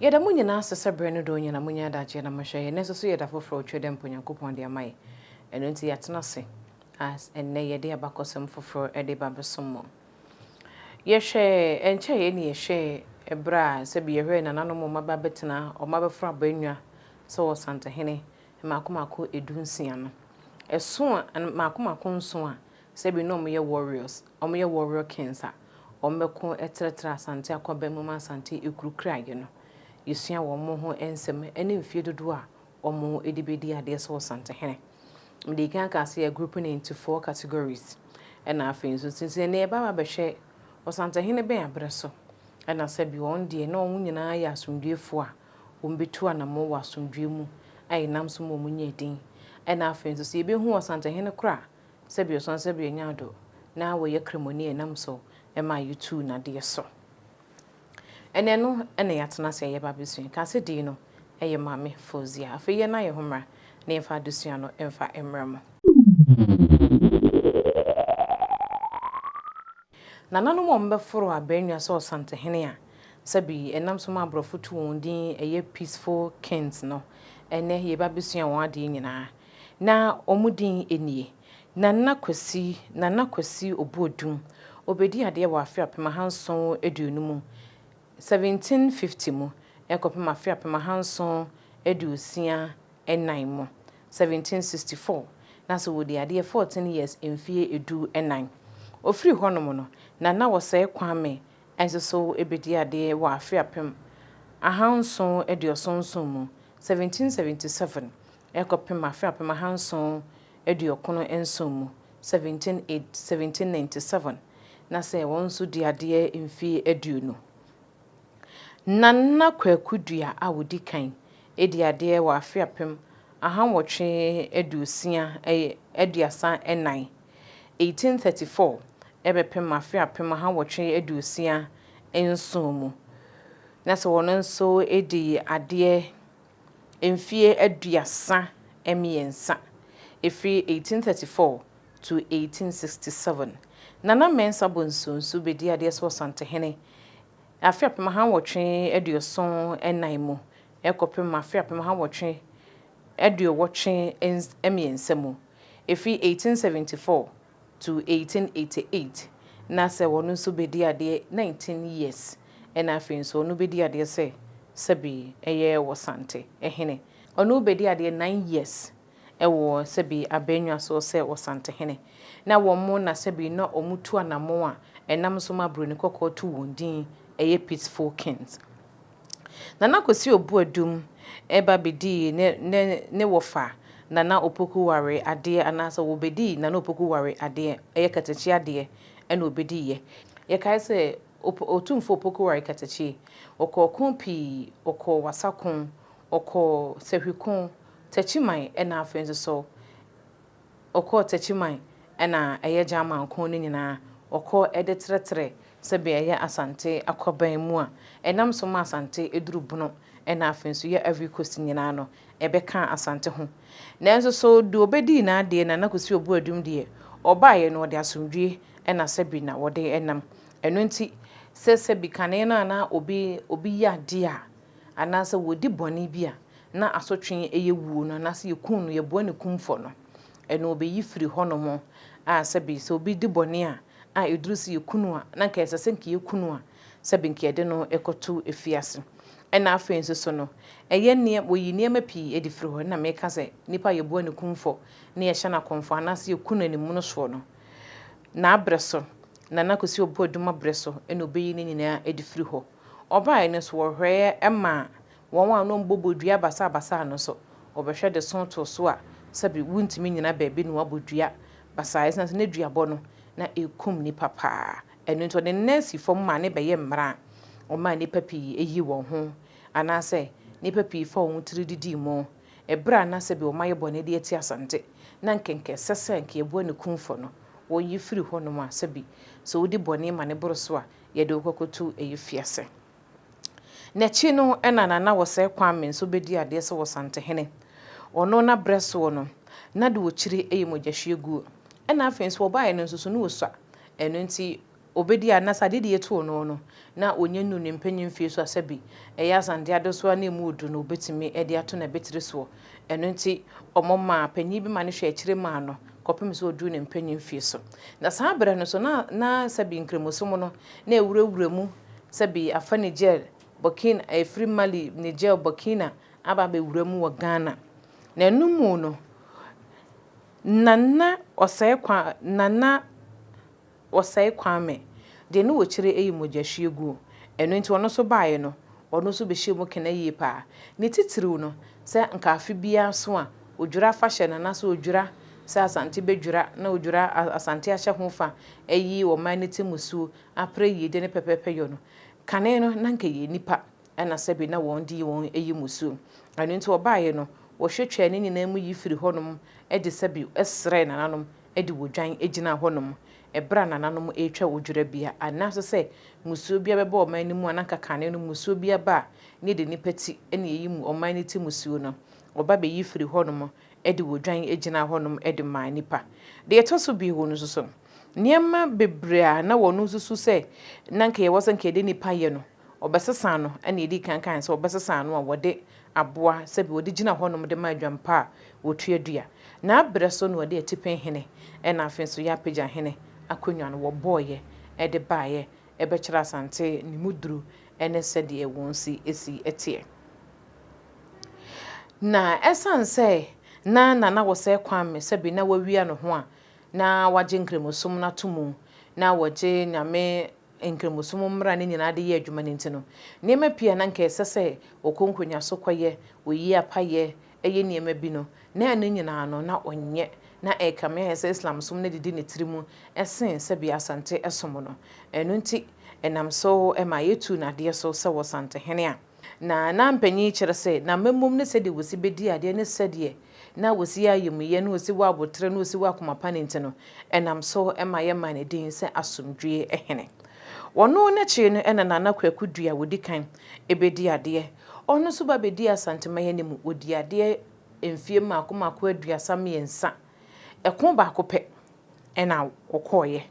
Yɛda mo nyina ase sɛ berɛ no dɔɔ nyina monya adagyeɛ na mohwɛ yɛ, nanso so yɛ da foforɔ a ɔtwa da mpo Nyankopɔn de ama yɛ. Ɛno nti yɛatena ase a ɛnnɛ yɛde abakɔsɛm foforɔ de ba bɛsom mo. Yɛhwɛ ɛnkyɛeɛ ne yɛhwɛɛ berɛ a sɛbi yɛhwɛɛ nananom wɔn aba abɛtena wɔn abɛforo abannwa sɛ ɔsantehene mmaako mmaako ɛdu nsia no. Ɛso a, mmaako mmaako nson a Sɛ bi nom yɛ warriors, ɔmo yɛ warrior kings a, ɔmo bɛko ɛtrɛtrɛ Asante akwaban mu ma Asante ekuru kra yɛ no. Yɛsua wɔ ɔmo ho ɛnsɛm ɛne mfie dodoɔ a ɔmo ɛde bɛdi adeɛ sɛ Ɔsantehene. Medii kan kaa sɛ yɛ group no into four categories ɛna afei nso nti nti ɛnɛ yɛbɛba abɛhwɛ Ɔsantehene bɛn abrɛ so ɛna sɛ bi wɔn deɛ na ɔmo nyinaa yɛ asomdwoefoɔ a ɔmo bɛtu anamɔn wɔ asomdwoeɛ mu a ɛnam so ma ɔmo nya din ɛna afei nso sɛ yɛbɛhu Ɔsantehene koro a Sɛbi ɔsan sɛbi ɔnyaa do na wɔyɛ kramoni ɛnam so ɛma yɛtuu nadeɛ so. Ɛnɛ no ɛna yɛatena ase ɛyɛba abɛsua. Kaase dii no ɛyɛ Maame Fozia. Afei yɛn na yɛ ho mmra na yɛn fa adesua no ɛnfa mmra mu. Nananom a wɔn bɛforo abɛnwa sɛ Ɔsantehene a sɛbi ɛnam so ma aborɔfo tu wɔn din ɛyɛ Peaceful Kings no ɛnɛ yɛba abɛsua wɔn adeɛ nyinaa. Na wɔn din nie, Nana Kwasi, Nana Kwasi Obuodum, ɔbɛdii adeɛ wɔ afe apem ahanson aduonu mu, 1750 mu, kɔpem afe apem ahanson aduosia nnan mu, 1764, na sɛ ɔdii adeɛ 14 years, mfeɛ du nnan. Ɔfiri hɔnom no, Nana Osei Kwame nso so bɛdii adeɛ wɔ afe apem ahanson aduoson nson mu, 1777, rekɔpem afe apem ahanson aduokron nson mu, 17 Aid 1797, na sɛ wɔn nso di adeɛ mfie aduonu. Na na Kwaku Dua a ɔdi kan di adeɛ wɔ afe apem ahanwɔtwe aduosia aduasa nnan, 1834 bɛpem afe apem ahanwɔtwe aduosia nson mu, na sɛ wɔn nso di adeɛ mfeɛ aduasa mmiɛnsa, ɛfiri 1834 to 1867. Nana Mensah Bonsu nso bɛdii adeɛ sɛ Ɔsantehene afe apem aha nwɔtwe aduoson nnan mu kɔpem afe apem aha nwɔtwe aduowɔtwe mmiɛnsa mu, ɛfiri 1874 to 1888 na sɛ ɔno nso bɛdi adeɛ 19 years ɛna afei nso ɔno bɛdi adeɛ sɛ sɛbi ɛyɛ Wɔsante hene ɔno bɛdi adeɛ 9 years ɛwɔ sɛbi Abɛnwa soɔ sɛ Wɔsante hene na wɔn mo na sɛbi na wɔn mo tu anamɔn a ɛnam so ma Broni kɔkɔɔ tu wɔn din ɛyɛ Peaceful Kings. Nana Kwasi Obuadum ba bɛdii ne ne ne wɔfa Nana Opoku Ware adeɛ anaasɛ wɔbɛdii Nana Opoku Ware adeɛ, ɛyɛ katakyi adeɛ ɛna ɔbɛdiiɛ. Yɛkae sɛ Op Otumfoɔ Opoku Ware Katakyi, ɔkɔɔ ko pii, ɔkɔɔ Wasa ko, ɔkɔɔ Sahwi ko, Takyiman ɛna afei nso so Ɔkɔɔ Techiman na ɛyɛ German ko no nyinaa, ɔkɔɔ de trɛtrɛɛ sɛdeɛ ɛyɛ Asante akwaban mu a ɛnam so ma Asante duru Bono na afei nso yɛ Ivory Coast nyinaa no, ɛbɛkaa Asante ho. Nanso so deɛ ɔbɛdii n'adeɛ Nana Kwesi Obuadum deɛ, ɔbaeɛ no ɔde asomdwoeɛ na sɛbi na ɔde nam. Ɛno nti sɛ sɛbi kane no a na obi obi yɛ adeɛ a, anaasɛ wɔdi bɔne bi a na asotwe yɛ wuo no, anaasɛ yɛkum no, yɛboa ne kumfɔ no, ɛno wɔbɛyi firi hɔnom, a sɛbe sɛ obi di bɔne a, a ɛduru sɛ yɛku no a, na anka ɛsɛ sɛ anka yɛku no a, sɛbe anka yɛde no kɔto afiase. Ɛna afei nso so no, ɛyɛ nneɛ, wɔyi nneɛma pii adi firi hɔ, ɛna meka sɛ nipa a yɛboa ne kumfɔ, na yɛhyɛ no akɔmfɔ, anaasɛ yɛku no animono soɔ no, n'abrɛ so, Nana Kwesi Obuadum abrɛ so, ɛna wɔbɛyi ne nyinaa adi firi hɔ. Ɔbae no so wɔhwɛɛ maa wɔn a na wɔbobɔ dua basaabasaa no so. Wɔbɛhwɛ de sõ too so a, sɛbe wontumi nnyina baabi na wɔabɔ dua basaa esiane sɛ na duabɔ no, na ekum nnipa paa. Ɛno nti, wɔde nɛɛse fam maa no bɛyɛɛ mmara a wɔmaa nnipa pii yii wɔn ho anaasɛ nnipa pii faa wɔn tiri didii mu. Bere a na sɛbe wɔayɛ bɔne de atia Asante, na anka anka ɛsɛ sɛ anka yɛboa ne kumfɔ no, wɔyi firi hɔnom a, sɛbe sɛ wodi bɔne ma no boro so a, yɛde wo kɔkɔtu ayufiase. N'akyi no na Nana Wɔsɛe Kwame nso bɛdii adeɛ sɛ Wɔsantehene. Ɔno n'aberɛ soɔ no, na deɛ ɔkyiri yɛ mogyahwieguo. Ɛna afei nso ɔbaeɛ no nso so na ɔsua. Ɛno nti ɔbɛdii a na sɛ adedie to ɔno no, na ɔnya nnuru ne mpanin mfeɛ so a sɛ bi ɛyɛ Asante Adesoa na ɛmu ɔduru no ɔbɛtumi de ato n'abatiri soɔ. Ɛno nti wɔmaa panin bi ma no hwɛɛ akyire maa no. kɔpem sɛ ɔduru ne mpanin mfeɛ so. Na saa berɛ no nso na na sɛbi Nkramosom no na ɛwurawura mu, sɛbi afa Niger, Burkina, ɛfiri Mali, Niger, Burkina aba abɛwura mu wɔ Ghana. Na ɛno mu no na na ɔsɛe kwa, na na. Wɔsɛe Kwame. Deɛ ne wɔ kyire ɛyɛ mogyahwie guo. Ɛno nti ɔno nso baeɛ no, ɔno nso bɛhyɛɛ mu kena yie paa. Ne titiriw no, sɛ nka afe biara nso a, Odwira afahyɛ no anaasɛ Odwira sɛ Asante bɛdwira na Odwira Asante ahyɛ ho fa ayi ɔman no temusuo apere yiedie ne pɛpɛɛpɛyɔ no. Kane no, na nka ɛyɛ nnipa na sɛbe na wɔn de yi wɔn yi mu suo. Ɛno nti wɔbaeɛ no, wɔhwɛ twaa ne nyinaa mu yi firii hɔnom de sɛbe srɛɛ nananom de odwan gyinaa hɔnom bere a nananom retwa odwerabea. Anna nso sɛ mmusuo biara bɛba ɔman no mu a, na anka kane no mmusuo biara ba a, na yɛde nnipa ti na yɛyi mu ɔman no ti mmusuo no. Wɔba bɛyi firii hɔnom de odwan gyinaa hɔnom de maa nnipa. Deɛ ɛtɔ so bio nso so, nneɛma bebree a na wɔn nso su sɛ na anka yɛwɔ sɛ anka yɛde nnipa yɛ no, wɔbɛsesa ano, ɛnna yɛdii kan kae sɛ wɔbɛsesa ano a wɔde aboa sɛbi wɔde gyina hɔnom de ma adwampa a wɔtua dua. N'abrɛ so na wɔde atipɛn hene na afei nso yɛapagya hene akonnwa no wɔbɔeɛ de baeɛ bɛkyerɛ Asante ne mu duru ne sɛdeɛ wɔn si si teɛ. Na ɛsiane sɛ na Nana Wosɛɛ Kwame sɛbi na wawia ne ho a na wagye Nkramosom no ato mu na wɔgye Nyame Nkramosom mmara no nyinaa de yɛ adwuma no nti no, nneɛma pii a na anka ɛsɛ sɛ ɔkɔ nkonyaaso kɔyɛ, oyi apa yɛ, yɛ nneɛma bi no, na ɛno nyinaa no, na ɔnyɛ. Ná ɛrekame ayɛ sɛ Islamsom no adidi ne tirim sen sɛdeɛ Asante som no. Ɛno nti, ɛnam so maa yɛtuu no adeɛ so sɛ ɔsantehene a. Na na mpanyin yi kyerɛ sɛ n'amammom ne sɛdeɛ wɔsi bɛdi adeɛ ne sɛdeɛ na wɔsi yɛ ayamuyɛ ne wɔsi wɔ aboterɛ ne wɔsi wɔ akoma pa no nti no, ɛnam so ma yɛmaa no din sɛ Asomdwoeɛ Hene. Ɔno n'akyi no na Nana Kwaku Dua a ɔdi kan bɛdi adeɛ. Ɔno nso ba bɛdii Asanteman anim, ɔdii adeɛ mfeɛ mmaako mmaako aduasa mmiɛnsa. Ɛko baako pɛ na ɔkɔeɛ.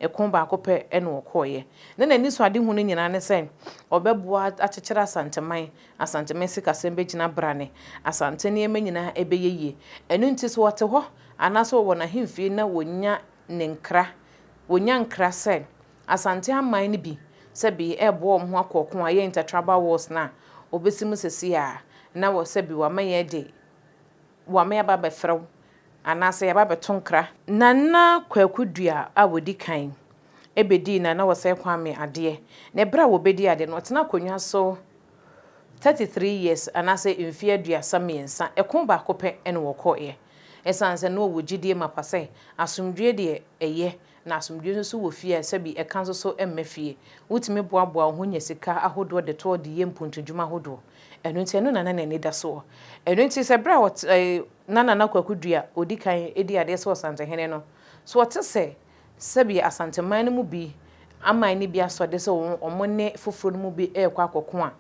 Ɛko baako pɛ na wɔkɔeɛ. Na n'anisoadehu no nyinaa ne sɛ ɔbɛboa akyekyere Asanteman, Asanteman sikasɛm bɛgyina brane, Asante nneɛma nyinaa bɛyɛ yie. Ɛno nti sɛ ɔte hɔ anaasɛ ɔwɔ n'ahemfie na wɔnya ne nkra, wɔnya nkra sɛ Asante aman no bi sɛbi reboa wɔn ho akɔ ɔko a ɛyɛ Inter-Tribal Wars no a wɔbɛsi mu seesei a, na wɔ sɛbi wama yɛadi. Wɔama yɛaba abɛfrɛ wo anaasɛ yɛaba abɛto nkra. Nana Kwaku Duah a ɔdi kan bɛdii Nana Osei Kwame adeɛ, na berɛ a wɔbɛdi adeɛ no, ɔtena akonnwa so 33 years anaasɛ mfeɛ aduasa mmiɛnsa, ɛko baako pɛ na ɔkɔeɛ, ɛsiane sɛ na ɔwɔ gyidie mapa sɛ asomdwoeɛ deɛ ɛyɛ Na asomdwoe nso so wɔ fie a ɛsɛ bi, ɛka nso so mma fie. Wotumi boaboa wo ho nya sika ahodoɔ de toɔ de yɛ mpuntunnwuma ahodoɔ. Ɛno nti, ɛno na na n'ani da soɔ. Ɛno nti, sɛ berɛ a ɔte, ɛɛ, na Nana Kwaku Dua a ɔdi kan di adeɛ sɛ Ɔsantehene no, so ɔte sɛ sɛdeɛ Asanteman no mu bi aman no bi asɔ de sɛ wɔn ne foforɔ no mu bi rekɔ akɔko a,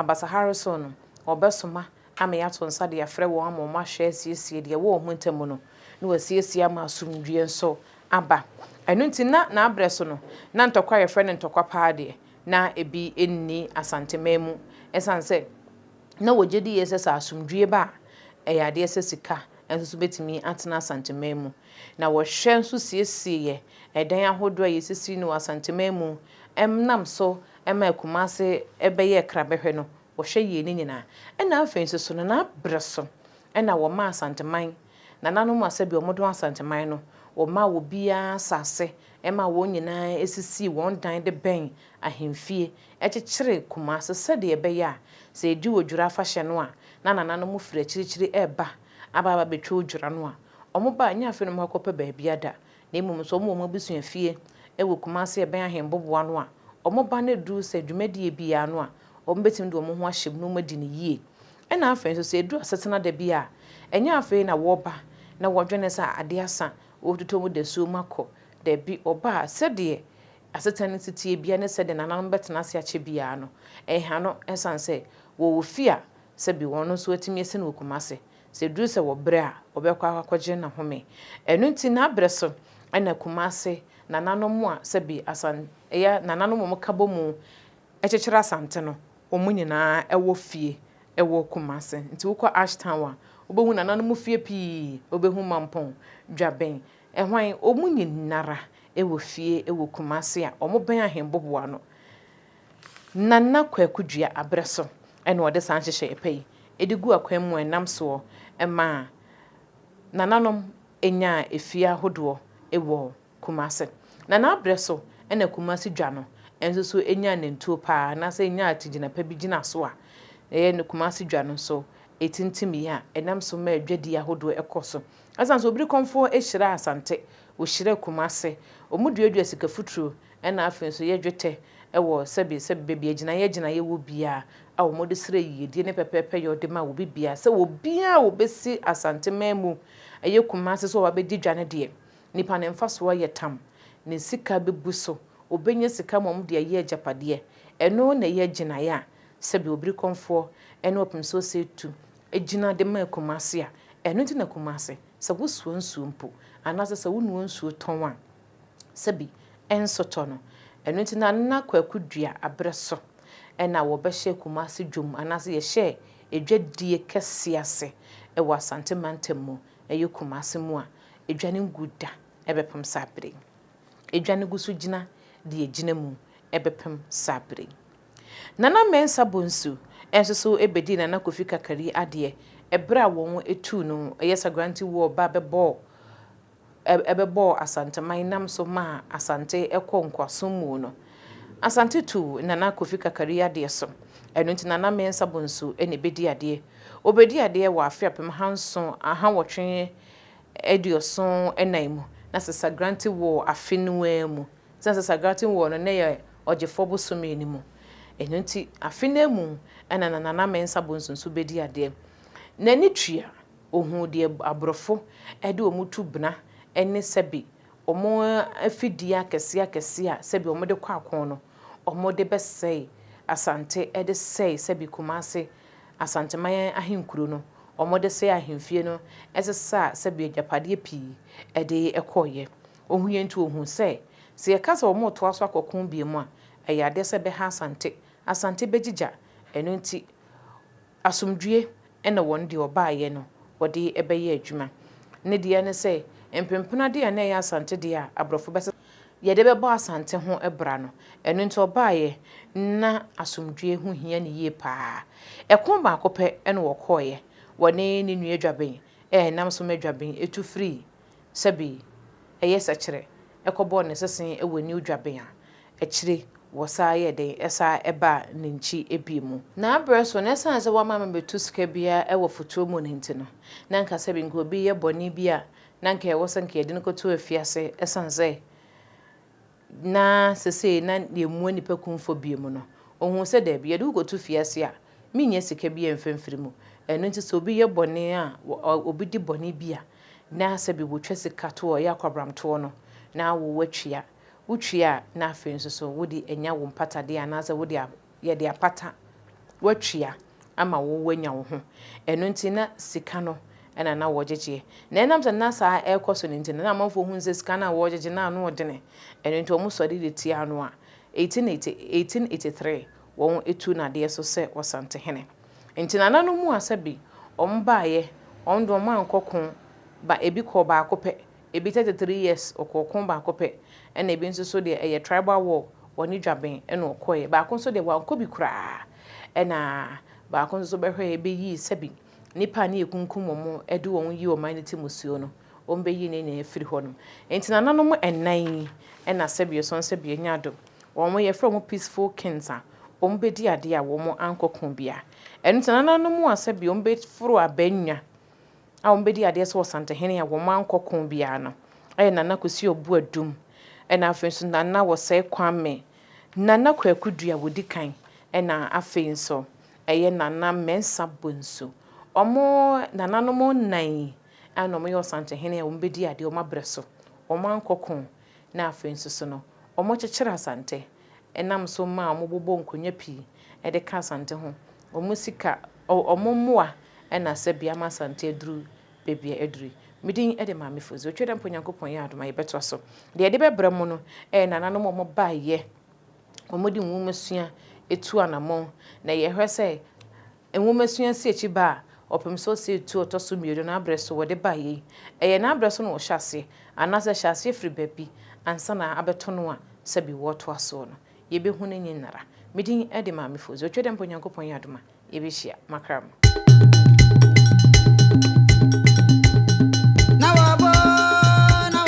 Abasa Harrison no, ɔbɛsoma Ame ato nsa de afrɛ wɔn ama wɔahwɛ asiesie deɛ ɛwɔ wɔn ntam no, na wɔasiesie ama asomdwoeɛ nso aba. Ɛno nti, na n'aberɛ so no, na ntɔkwa a wɔfrɛ no ntɔkwa paa deɛ, na ebi nni Asanteman mu, ɛsiane sɛ na wɔgye die sɛ sɛ asomdwoeɛ ba a, ɛyɛ adeɛ sɛ sika nso so bɛtumi atena Asanteman mu. Na wɔhwɛ nso siesieɛ ɛdan ahodoɔ a yɛsisi no wɔ Asanteman mu, ɛnam so maa Kumase bɛyɛɛ krabɛhwɛ no, Wɔhwɛ yie no nyinaa. Ɛna afei nso so no na berɛ so na wɔmaa Asanteman nananom a sɛdeɛ wɔdɔn Asanteman no, wɔmaa obiara asase maa wɔn nyinaa sisii wɔn dan de bɛn ahemfie, kyekyeree Kumase sɛdeɛ ɛbɛyɛ a sɛ ɛdu Odwira afahyɛ no a na nananom firi akyirikyiri reba aba abɛtwa Odwira no a wɔba a ɛnyɛ afei na wɔakɔpɛ baabi ada. na mmom nso wɔwɔ wɔn abusua fie wɔ Kumasi a ɛbɛn Ahenboboa no a, wɔn ba no duru sɛ dwumadie biara no a, wɔbɛtumi de wɔn ho ahyɛ mu na wɔadi no yie. Ɛna afei nso sɛ ɛduru asetena da bi a, ɛnyɛ afei na wɔba na wɔdwene sɛ adeɛ asa, wɔtotɔ mu dasuo mu akɔ. Dabi, wɔba a, sɛdeɛ asetena no si teɛ biara ne sɛdeɛ nananom bɛtena ase akyɛ biara no, ɛha no, ɛsiane sɛ wɔwɔ fie a, sɛbi wɔn nso atumi asi no wɔ Kumasi, Sɛ ɛduru sɛ wɔbrɛ a, wɔbɛkɔ akɔgye n'ahome. Ɛno nti, n'abrɛ so na Kumase nananom a sɛbi Asan yɛ nananom a wɔka bɔ mu kyekyere Asante no, wɔn nyinaa wɔ fie wɔ Kumase. Nti wokɔ Ash Town a, wobɛhu nananom fie pii, wobɛhu Mampong, Dwaben, hwan, wɔn nyinara wɔ fie wɔ Kumase a wɔbɛn Ahenboboa no. Nana Kwaku Dua abrɛ so na wɔde saa nhyehyɛeɛ pa yi de gu akwan mu a ɛnam soɔ ma Nananom nya afie ahodoɔ wɔ Kumase. Na n'abrɛ so na Kumase dwa no nso so nyaa nantuo pa ara anaasɛ ɛnyaa akyigyina pa bi gyina so a ɛyɛ ne Kumase dwa no nso tintim yɛ a ɛnam so ma dwadie ahodoɔ kɔ so. Ɛsane sɛ Obirikɔmfoɔ hyiraa Asante, ɔhyiraa Kumase, wɔduadua sika futuro Ɛna afei nso yɛ dwetɛ wɔ sɛbe sɛbe baabi agyinaeɛ agyinaeɛ wɔ biara a wɔde srɛ yiedie ne pɛpɛɛpɛ yɛ ɔde ma obi biara sɛ obiara a ɔbɛsi Asanteman mu ɛyɛ Kumasi sɛ ɔba bɛdi dwa no deɛ nipa no mfasoɔ yɛ tam ne sika bɛbu so ɔbɛnya sika ma wɔde ayɛ agyapadeɛ ɛno na ɛyɛ agyinaeɛ a sɛbe Obirikɔmfoɔ ɛne Ɔpemsoɔ Ɔsɛtu gyina de ma Kumasi a ɛno nti na Kumasi sɛ wosoa nsuo mpo anaasɛ sɛ wonoa nsuo tɔn a. sɛ bi nso tɔ no. Ɛno nti na na Kwaku dua aberɛ so na wɔbɛhyɛ Kumase dwom anaasɛ yɛhyɛɛ adwadie kɛseɛ ase wɔ Asante mantam mu, ɛyɛ Kumase mu a adwa no ngu da bɛpem saa berɛ yi. Adwa no gu so gyina deɛ ɛgyina mu bɛpem saa berɛ yi. Nana Mensah Bonsu nso so bɛdii Nana Kofi Kakari adeɛ berɛ a wɔn tuu no yɛ Sagranti War ba bɛbɔɔ ɛbɛbɔɔ Asanteman nam so maa Asante kɔɔ nkoasom mu no, Asante tuu Nana Kofi Kakari adeɛ so. Ɛno nti Nana Mensah Bonsu na ɛbɛdi adeɛ. Ɔbɛdii adeɛ wɔ afe apem ahanson ahanwɔtwe aduoson nan mu, na Sasagranti woo afe no ara mu. Sɛ na Sasagranti woo no na ɛyɛ Ɔgyefoɔ bosome no mu. Ɛno nti afe no ara mu na na Nana Mensah Bonsu nso bɛdi adeɛ. N'ani tua Ohuu deɛ aborɔfo de wɔn tu bena ne sɛbe wɔn afidie akɛseɛ akɛseɛ a sɛbe wɔn de kɔ ako no wɔn de bɛsɛe Asante de sɛe sɛbe Kumase Asanteman ahenkuro no wɔn de sɛe ahemfie no sesaa sɛbe agyapadeɛ pii de kɔeɛ. Ohuiɛ nti ohuu sɛ sɛ yɛka sɛ wɔn retoa so akɔ ko biom a ɛyɛ adeɛ sɛ ɛbɛha Asante. Asante bɛgyigya ɛno nti Asomdwoeɛ na wɔn deɛ wɔbaeɛ no wɔde bɛyɛ adwuma. Ne deɛ ne sɛ, mpempena deɛ a na ɛyɛ Asante deɛ a aborɔfo bɛsesa. Yɛde bɛbɔ Asante ho bra no. Ɛno nti ɔbaeɛ na asomdwoeɛ ho hia no yie pa ara. Ɛko baako pɛ na wɔkɔeɛ, wɔne ne nua Adwaben a ɛnam so ma Adwaben tu firii sɛbe ɛyɛ Sɛkyerɛ kɔbɔɔ ne sese wɔ New Dwaben a Akyire wɔsaa yɛɛ dɛn? Ɛsaa baa ne nkyi bio mu. Na aberɛ so no, ɛsiane sɛ wamma mebɛtu sika biara wɔ fotuo mu no nti no, na anka sɛbe anka obi reyɛ bɔne bi a, na anka ɛwɔ sɛ anka yɛde no kɔto afiase, ɛsiane sɛ na seesei na yɛmmua nnipa kumfɔ bio mu no, ɔhuu sɛ daabi, yɛde wo kɔto fiase a, mennya sika biara mfa mfiri mu. Ɛno nti sɛ obi yɛ bɔne a, obi di bɔne bi a, na sɛbe wɔtwa sika toɔ, yɛ akwabramtoɔ no, na wo woatua. wotua a na afei nso so wode anya wo mpatadeɛ anaasɛ wode a yɛde apata woatua ama wo woanya wo ho. Ɛno nti na sika no ɛna na wɔgyegyeɛ. Na ɛnam sɛ na saa ɛrekɔ so no nti no na amanfoɔ hunu sɛ sika no a wɔregyegye no ano ɔdene. Ɛno nti wɔn sɔre de tiaa no a 1883 wɔn tuu no adeɛ so sɛ Ɔsantehene. Nti nananom mu asabi wɔn baeɛ wɔn de wɔn ankɔ ko ba ebi kɔɔ baako pɛ Ebi 33 years ɔkɔɔ ko baako pɛ ɛna ebi nso so deɛ ɛyɛ tribal war ɔne dwaben ɛna ɔkɔeɛ baako nso deɛ wankɔ bi koraa ɛna baako nso so bɛhwɛɛ bɛyii sɛbi nnipa a ne yɛkunkum wɔn ɛde wɔn yi ɔman no ti musuo no wɔn bɛyi ne nyinaa afiri hɔ nom nti nananom ɛnan yi ɛna sɛbi ɔsɔn sɛbi anya adom wɔn yɛfrɛ wɔn peaceful kings a wɔn bɛdi adeɛ a wɔn ankɔ ko biara ɛno nti nananom a sɛbi wɔn bɛforo abannwa a wɔbɛdi adeɛ sɛ Ɔsantehene a wɔankɔ ko biara no yɛ Nana Kwesi Obuadum na afei nso Nana Wɔsɛe Kwame, Nana Kwaku Dua wɔdi kan na afei nso ɛyɛ Nana Mensah Bonsu. Wɔn nananom nnan yi na wɔyɛ Ɔsantehene a wɔbɛdi adeɛ wɔabrɛ so, wɔankɔ ko na afei nso so no wɔkyekyere Asante. nam so ma wɔbobɔ nkonnwa pii de ka Asante ho. Wɔn sika, wɔn mmoa na sɛbea ma Asante aduru baabi a aduru yi. Me din de Maame Fodzi. Otwa dɛ mpo Nyankopɔn yɛ adom a yɛbɛtoa so. Deɛ yɛde bɛbrɛ mo no yɛ nananom a wɔbaeɛ, wɔde nwomasua atu anamɔn, na yɛhwɛ sɛ, Nwomasua si akyi ba a, wɔpem sɛ ɔsɛ etuo a ɔtɔ so mmienu no abrɛ so wɔde baeɛ yi. Ɛyɛ no abrɛ so na wɔhyɛ aseɛ, anaasɛ hyɛ aseɛ firi baabi ansa na abɛto no a sɛbi wɔtoa soɔ no. Yɛbɛhu no nyi nnara. Me din de Maame Fozu. Otwa dɛ mpo Nyankopɔn yɛ adom a, yɛbɛhyia. Makra mo.